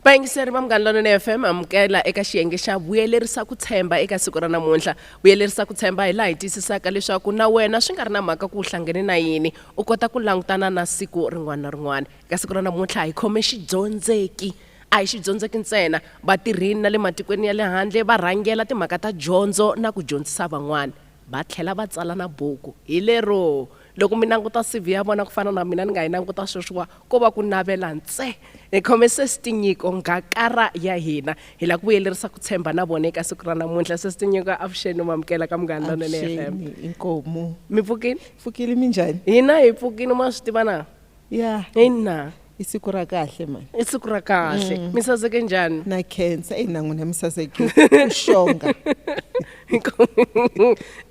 vayingiseri va munghana lonene fm amukela eka xiyenge xa vuyelerisa ku tshemba eka siku ra namuntlha vuyelerisa ku tshemba hi laha hi tiyisisaka leswaku na wena swi nga ri na mhaka ku u hlangene na yini u kota ku langutana na siku rin'wana na rin'wana eka siku ra namuntlha hi khome xidyondzeki a hi xidyondzeki ntsena vatirhini na le matikweni ya le handle va rhangela timhaka ta dyondzo na ku dyondzisa van'wana Va tlhela va tsala na buku. Hi lero, loko mi languta CV ya vona ku fana na mina ni nga yi languta sweswiwa, ko va ku navela ntse. Hi khome Sesi Tinyiko, ngakara ya hina. Hi lava ku vuyelerisa ku tshemba na vona eka siku ra namuntlha. Sesi Tinyiko, avuxeni, mi amukela ka Munghana Lonene FM. Avuxeni, inkomu. Mi pfukile? Pfukile, minjhani? Hina hi pfukile, ma swi tiva na. ya eyi na i siku ra kahle mani i siku ra kahle mi saseke njhani na khensa eyi na n'wina mi saseke u xonga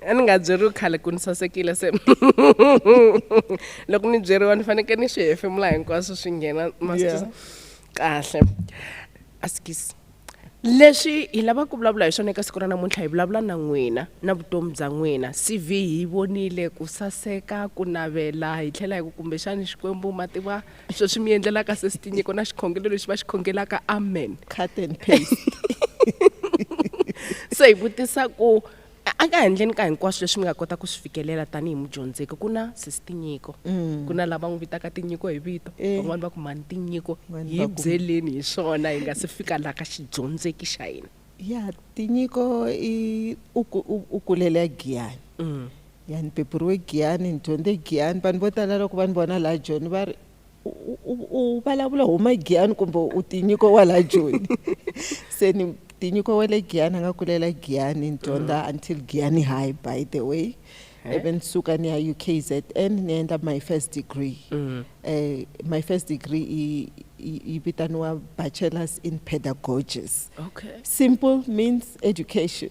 a ni nga byeriwi khale ku ni sasekile se loko ni byeriwa ni fanekele ni swi hefemula hinkwaswo swi nghena Yeah. masisa kahle asikisi leswi hi lavaka ku vulavula hi swona eka siku ra namuntlha hi vulavula na n'wina na vutomi bya n'wina cv hi vonile ku saseka ku navela hi tlhela hi ku kumbexani xikwembu ma tiva sweswi mi endlelaka sesi tinyiko na xikhongelo lexi va xi khongelaka amen cut and paste se hi vutisa ku a ka handleni ka hinkwaswo leswi mi nga kota ku swi fikelela tanihi mudyondzeki ku na sesi tinyiko mm. ku na lava n'wi vitaka tinyiko hi vito eh. van'wani va ku mani tinyiko hi byeleni hi swona hi nga se fika laha ka xidyondzeki xa hina ya tinyiko i u kulela giyani mm. ya ni pepuriwe giyani ni dyondze giyani vanhu vo tala loko va ni vona laha joni va ri u vulavula huma giyani kumbe u tinyiko wa la joni se ni tinyiko wa le giyani a nga kulela giyani ni dyondza mm. until giyani high by the way ivi ni suka ni ya ukzn ni endla my first degree mm. eh, my first degree yi vitaniwa bachelors in pedagogies okay. simple means education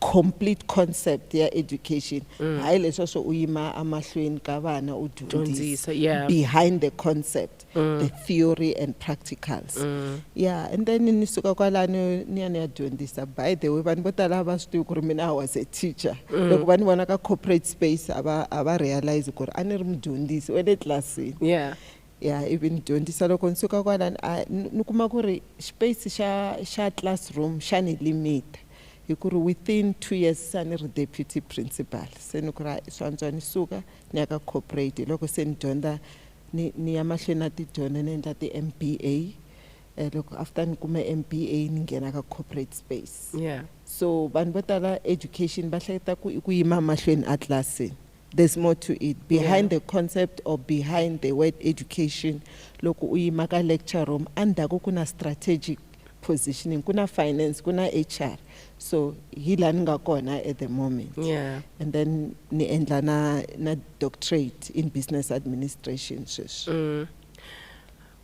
complete concept ya education mm. hayi leswa swo u yima amahlweni ka vana u dyondzisa yeah. behind the concept mm. the theory and practicals mm. yeah and then ni suka kwalano ni ya ni ya dyondzisa by the way vanhu vo tala a va swi tivi ku ri mina i was a teacher mm. loko va ni vona ka corporate space a va a va realize ku ri a ni ri mudyondzisi wa le tlilasini yeah ya ivi ni dyondzisa loko ni suka kwalani a ni kuma ku ri space xa xa classroom xa ni limita hi ku ri within two years se a ni ri deputy principal se ni ku ri swi antswa ni suka ni ya ka corporate hi loko se ni dyondza ni ni ya mahlweni na tidyondzo ni endla ti-M B A um loko after ni kume M B A ni nghena ka corporate space yeah so vanhu vo tala education va hleketa ku i ku yima mahlweni a tlilasini There's more to it behind yeah. the concept or behind the word education loko u yima ka lecture room endzhaku ku na strategic positioning ku na finance ku na hr so hi laha ni nga kona at the moment yeah. and then ni endla na na doctorate in business administration sweswi mm.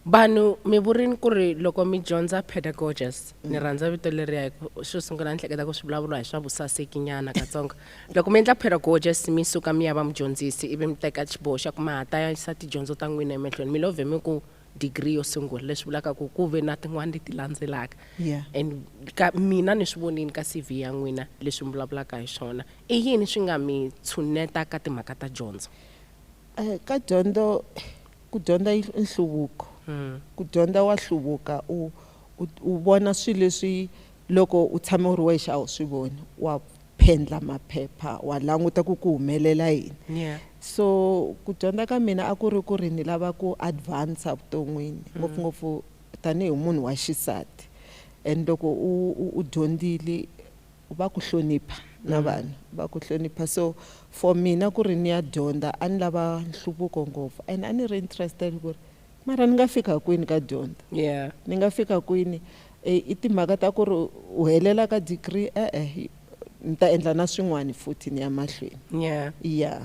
Vanhu mi vurini ku ri loko mi dyondza pedagogies ni rhandza vito leriya hi ku xo sungula ni hleketa ku swi vulavuriwa hi swa vusaseki nyana katsongo loko mi endla pedagogies mi suka mi ya va mudyondzisi ivi mi teka xiboho xa ku ma ha ta yisa tidyondzo ta n'wina emahlweni mi lo vhe mi ku degree yo sungula leswi vulaka ku ku ve na tin'wani leti landzelaka Yeah. and ka mina ni swi vonini ka cv ya n'wina leswi mi vulavulaka hi swona i yini swi nga mi tshuneta ka timhaka ta dyondzo Eh, ka dyondzo Ku dyondza i nhluvuko. Ku dyondza wa hluvuka u u vona swilo leswi loko u tshame u ri wexe a wu swi voni wa phendla maphepha wa languta ku ku humelela yini yeah. So ku dyondza ka mina a ku ri ku ri ni lava ku advance vuton'wini mm. ngopfungopfu mm. tanihi munhu wa xisati and loko u, u, u dyondzile va ku hlonipha na vanhu va ku hlonipha so for mina ku ri ni ya dyondza a ni lava nhluvuko ngopfu and a ni ri interested ku ri mara ni nga fika kwini ka dyondza yeah ni nga fika kwini e, i timhaka ta ku ri u helela ka degree e-e ni ta endla na swin'wana futhi ni ya mahlweni yeah ya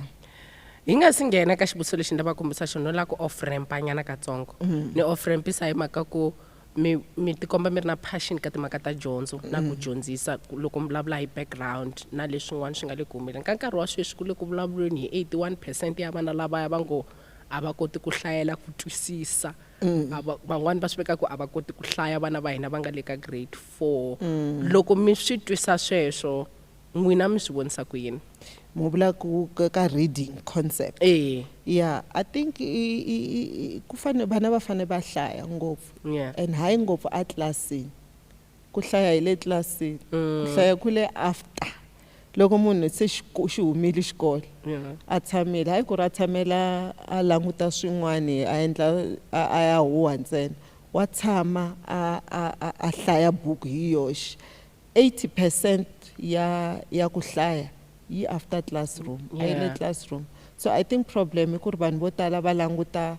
hi nga si nghena ka xivutiso lexi ni lava kombisa xona no lava ku off rampa nyana katsongo ni off rampisa hi mhaka ku mi mi tikomba mi ri na passion ka timhaka ta dyondzo na ku mm. dyondzisa loko mi vulavula hi background na leswin'wana swi nga le ku humeleni ka nkarhi wa sweswi ku le ku vulavuleni hi 81 percent ya vana lavaya va ngo a va koti ku hlayela ku twisisa mm. van'wani va swi veka ku a va koti ku hlaya vana va hina va nga le ka grade four mm. loko mi swi twisa sweswo N'wina mi swi vonisa ku yini? Mu vula ku ka reading concept. Eya. Yeah, I think ku fane vana va fane va hlaya ngopfu. Yeah. And hayi ngopfu a tlilasini. Ku hlaya hi le tlilasini. Ku hlaya ku le after loko munhu se xi humile xikolo. Yeah. A tshamile hayi ku ri a tshamela a languta swin'wani a endla a ya huha ntsena. Wa tshama a a a a hlaya buku hi yoxe. 80 percent ya ya ku hlaya yi after classroom yeah. a yi le classroom so i think problem i ku ri vanhu vo tala va languta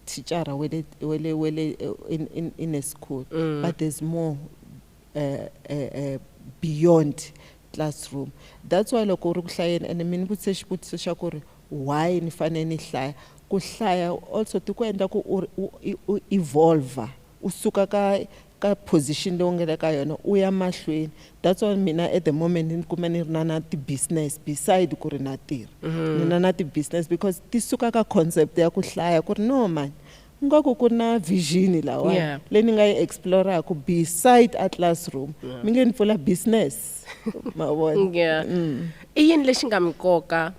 thicara wele wele wele eh, in, in, in a school mm. but there's more uh, uh, uh, beyond classroom that's why loko u ri ku hlayeni ene mi ni vutise xivutiso xa ku ri why ni fanele ni hlaya ku hlaya also ti ku endla ku u evolva u suka ka ka position leyi u nga le ka yona u ya mahlweni that's why mina at the moment ni kuma ni ri na na ti-business beside ku ri na tirha mm-hmm. ni na na ti-business because ti suka ka concept ya ku hlaya ku ri no mani ingaku ku na vision lawa yeah. leyi ni nga yi exploraku beside a classroom yeah. mi nge ni pfula business mavona yeah. mm. i yini lexi nga mi koka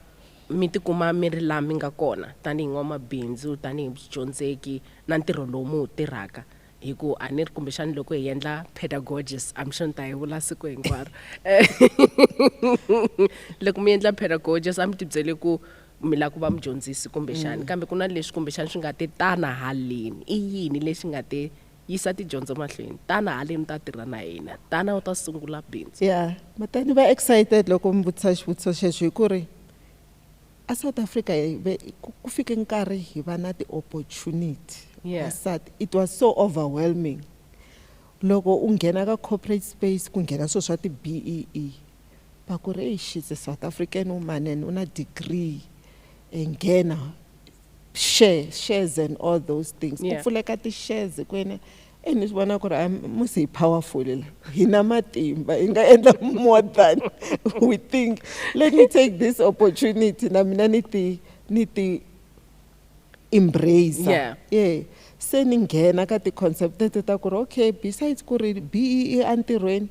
mi tikuma mi ri laha mi nga kona tanihi n'wamabindzu tanihi byidyondzeki na ntirho lowu mi wu tirhaka hi ku a ni ri kumbexani loko hi endla pedagogist am sure ni ta hi vula siku hinkwaro loko mi endla pedagogist a mi tibyele ku mi lava ku va mudyondzisi kumbexani kambe ku na leswi kumbexani swi nga te tana haleni i yini lexi nga te yisa tidyondzo mahlweni tana haleni u ta tirha na hina tana u ta sungula bindzu ya mata ni va excited loko mi vutisa xivutiso xexo hi ku ri A South Africa hi ve ku ku fike nkarhi hi va na ti opportunity Yeah. vasati it was so overwhelming loko u nghena ka corporate space ku nghena swilo swa ti BEE va ku ri eyi she's a South African woman and u na degree e nghena share shares and all those things ku Yeah. pfuleka ti shares ku yena e ni swi vona ku ri a musi hi powerful la hi na matimba hi nga endla more than we think let me take this opportunity na mina ni ti ni ti embrace yeah. yeah se ni nghena ka ti-concept teto ta ku ri okay besides ku ri bee entirhweni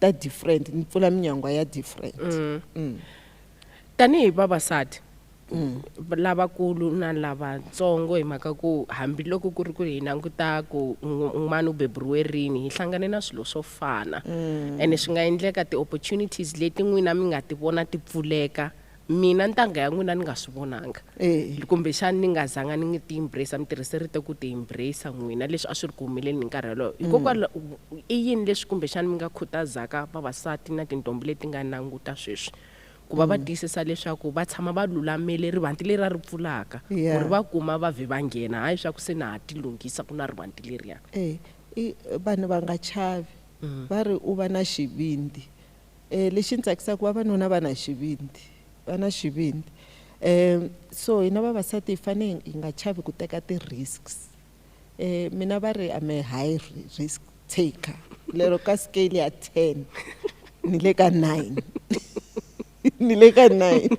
ta different ni pfula minyangwa ya different mm. Mm. tanihi vavasati mm. lavakulu na lavatsongo hi mhaka ku hambiloko ku ri ku hi languta ku n'wana u beburiwe rini hi hlangane na swilo swo fana mm. ene swi nga endleka ti-opportunities leti n'wina mi nga ti vona ti pfuleka mina ntangha ya n'wina ni nga swi vonanga eh. kumbexani ni nga zanga ni ngi ti embrace mi tirhise rito ku ti embrace n'wina leswi a swi ri ku humeleni hi nkarhi yoloyo mm. hikokwalaho i yini leswi kumbexani mi nga khutazaka vavasati na tintombi leti nga nanguta sweswi ku va va mm. tiyisisa leswaku va tshama va lulamele rivanti leri a ri pfulaka ku ri va kuma va vhe va nghena hayi swa ku se na ha ti lunghisa ku na rivanti leriya eh, vanhu va nga chavi mm. va ri u va na xivindzi E, lexi ni tsakisaka vavanuna va na xivindzi va na xivindzi um so hina vavasati hi fanele hi nga chavi ku teka ti-risks um mina va ri ame high risk taker lero ka scale ya ten ni le ka nine ni le ka nine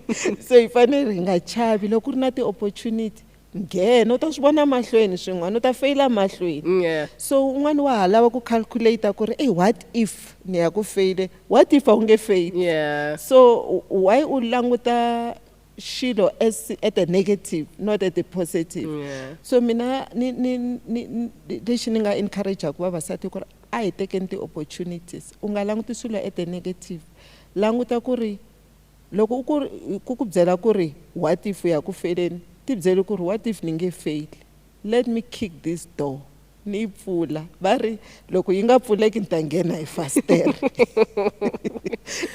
so hi fanele hi nga chavi loko ku ri na ti-opportunity Nghen, u ta swi vona mahlweni swin'wana, u ta feyila mahlweni. Nye. So un'wana wa ha lava ku calculator ku ri, ey what if ni ya ku feyile, what if a wu nge feyili? Nye. So why u languta xilo as at a negative not at a positive? Nye. So mina ni ni ni ni lexi ni nga encourage-aku vavasati ku ri a hi tekeni ti-opportunities, u nga languti swilo at a negative, languta ku ri Loko u ku ku ku byela ku ri what if u ya ku feleni, ti byele ku ri what if ni nge feli, let me kick this door ni yi pfula va ri loko yi nga pfuleki ni ta nghena hi fasitere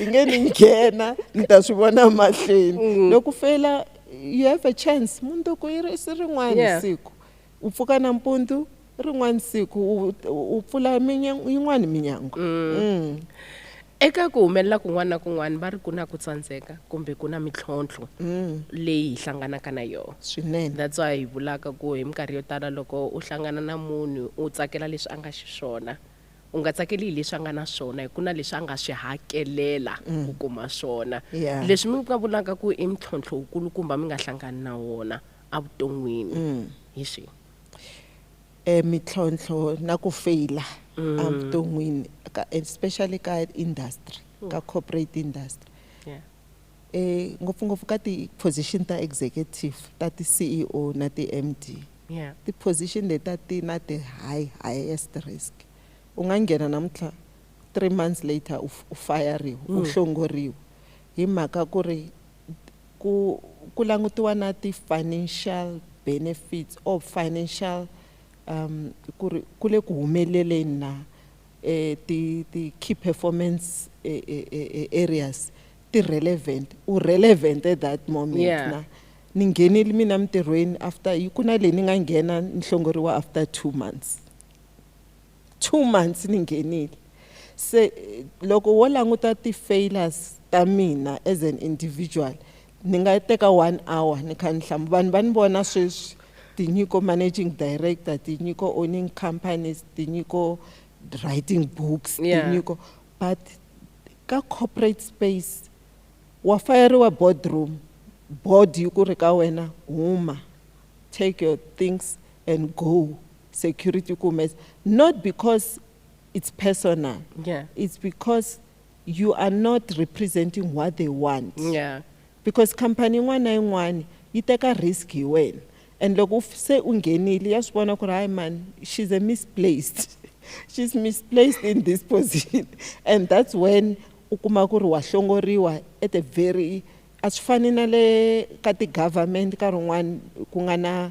yi nge ni nghena ni ta swi vona mahlweni mm. loko fela you have a chance munduku yi ri si rin'wana yeah. siku u pfuka nampundzu rin'wana siku u pfula yin'wana minyango mm. mm. Eka ku humelela kun'wana na kun'wana va ri ku na ku tsandzeka kumbe ku na mitlhontlho mm. leyi hi hlanganaka na yona swinene that's why hi vulaka ku hi minkarhi yo tala loko u hlangana na munhu u tsakela leswi a nga xiswona u nga tsakeli hi leswi a nga na swona hi ku na leswi a nga swi hakelela mm. ku kuma swona leswi mi nga vulaka ku i mintlhontlho wukulukumba mi nga hlangani na wona evuton'wini mm. hi swihi Mintlhontlho na ku feyila a vuton'wini ka especially ka industry ka corporate industry ngopfungopfu ka ti-position ta executive ta ti-C_E_O na ti-M_D ti-position leti a ti na ti-high highest risk u nga nghena namuntlha three months later u fayariwa u hlongoriwa hi mhaka ku ri Ku ku langutiwa na ti financial benefits or financial um ku ri ku le ku humeleleni na ti ti key performance areas ti relevant u relevant at that moment yeah. na ni nghenile mina mintirhweni after yi ku na leyi ni nga nghena ni hlongoriwa after two months 2 months ni nghenile se loko wo languta ti failures ta mina as an individual ni nga teka one hour ni kha ni hlamu vanhu va ni vona sweswi tinyiko managing director tinyiko owning companies tinyiko writing books yeah. tinyiko but ka corporate space wa fayeriwa boardroom board yi ku ri ka wena huma take your things and go security kumbe not because it's personal yeah. it's because you are not representing what they want yeah. because company yin'wana na yin'wana yi teka risk hi wena and loko se u nghenile ya swi vona ku ri hayi mani she's a misplaced she's misplaced in this position and that's when u kuma ku ri wa hlongoriwa at a very a swi fani na le ka ti-government nkarhi wun'wana ku nga na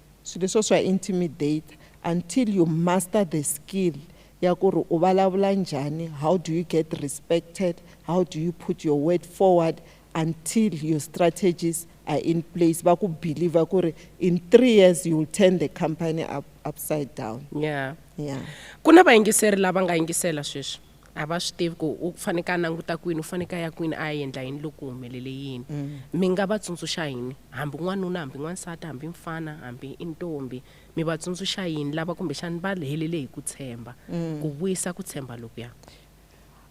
Swilo leswiya swa intimidator until you master the skill ya ku ri u vulavula njhani, how do you get respected, how do you put your word forward until your strategies are in place va ku believer ku ri in three years you will turn the company up, upside down. Yeah. Yeah. Ku na vayingiseri lava nga yingisela sweswi. a va swi tivi ku u faneke a languta kwini u faneke a ya kwini a ya endla yini loko ku humelele yini mm. mi nga va tsundzuxa yini hambi n'wanuna hambi n'wansati hambi mfana hambi i ntombi mi va tsundzuxa yini lava kumbexani va helele hi ku tshemba mm. ku vuyisa ku tshemba lokuya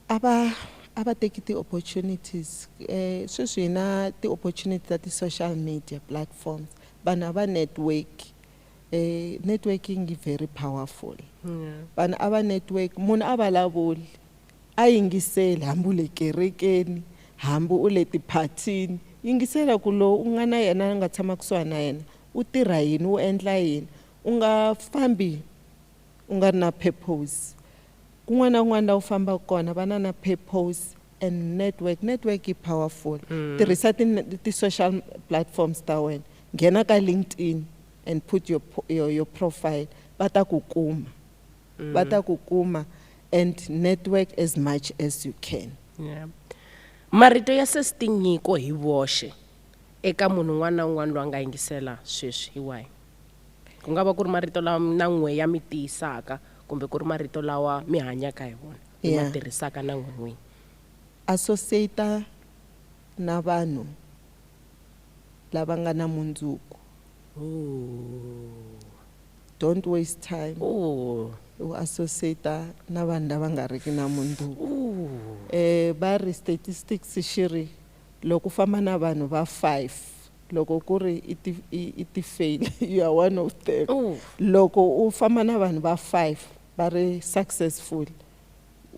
a va a va teki ti-opportunities um sweswi hi na ti-opportunity ta ti-social media platforms vanhu a va network e networking yi very powerful vanhu a va network munhu a vulavuli a yingiseli hambi u le kerekeni hambi u le tiphathini yingisela ku lowu u nga na yena a nga tshama kusuhani na yena u tirha yini u endla yini u nga fambi u nga ri na purpose kun'wana na kun'wana laha u fambaka kona va na na purpose And network, network yi powerful. Tirhisa ti ti social platforms ta wena. Nghena ka LinkedIn and put your your your profile va ta ku kuma. Va ta ku kuma and network as much as you can. Yeah. Marito ya sesi tinyiko hi voxe eka munhu un'wana na un'wana loyi a nga yingisela sweswi. Hi wahi? Ku nga va ku ri marito lawa na n'we ya mi tiyisaka kumbe ku ri marito lawa mi hanyaka hi wona. hi ma tirhisaka na n'win'wini. Associate na vanhu lava nga na mundzuku. Ooh. Don't waste time. Ooh. U associate na vanhu lava nga riki na mundzuku. Ooh. Eh, va ri statistics xi ri loko u famba na vanhu va five loko ku ri i ti i ti fail you are one of them. Ooh. Loko u famba na vanhu va five va ri successful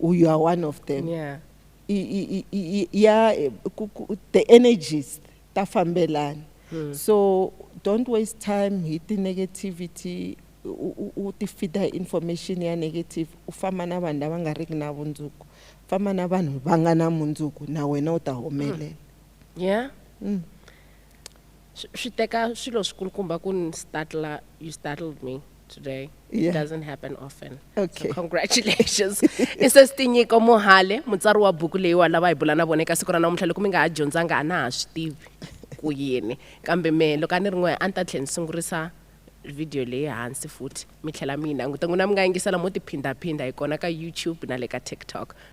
u you are one of them yeah. I, i, i, ya ku, ku, the energies ta fambelana hmm. so don't waste time hi ti-negativity u ti fida information ya negative u famba na vanhu lava nga riki na vundzuku famba na vanhu va nga na mundzuku na wena u ta humelela hmm. yeah mm. swi swi teka swilo swikulukumba ku ni startla you startled me today it Yeah. doesn't happen often Okay. so congratulations i sesi tinyiko mohale mutsari wa buku leyi wa lava hi bula na vona eka siku ra namuntlha loko mi nga ha dyondzanga a na ha swi tivi ku yini kambe me loko a ni ri n'we a ni ta tlhela ni sungurisa video leyi hansi futhi mi tlhela mi yi languta n'wina mi nga yingisela mo tiphindaphinda hi kona ka youtube na le ka tiktok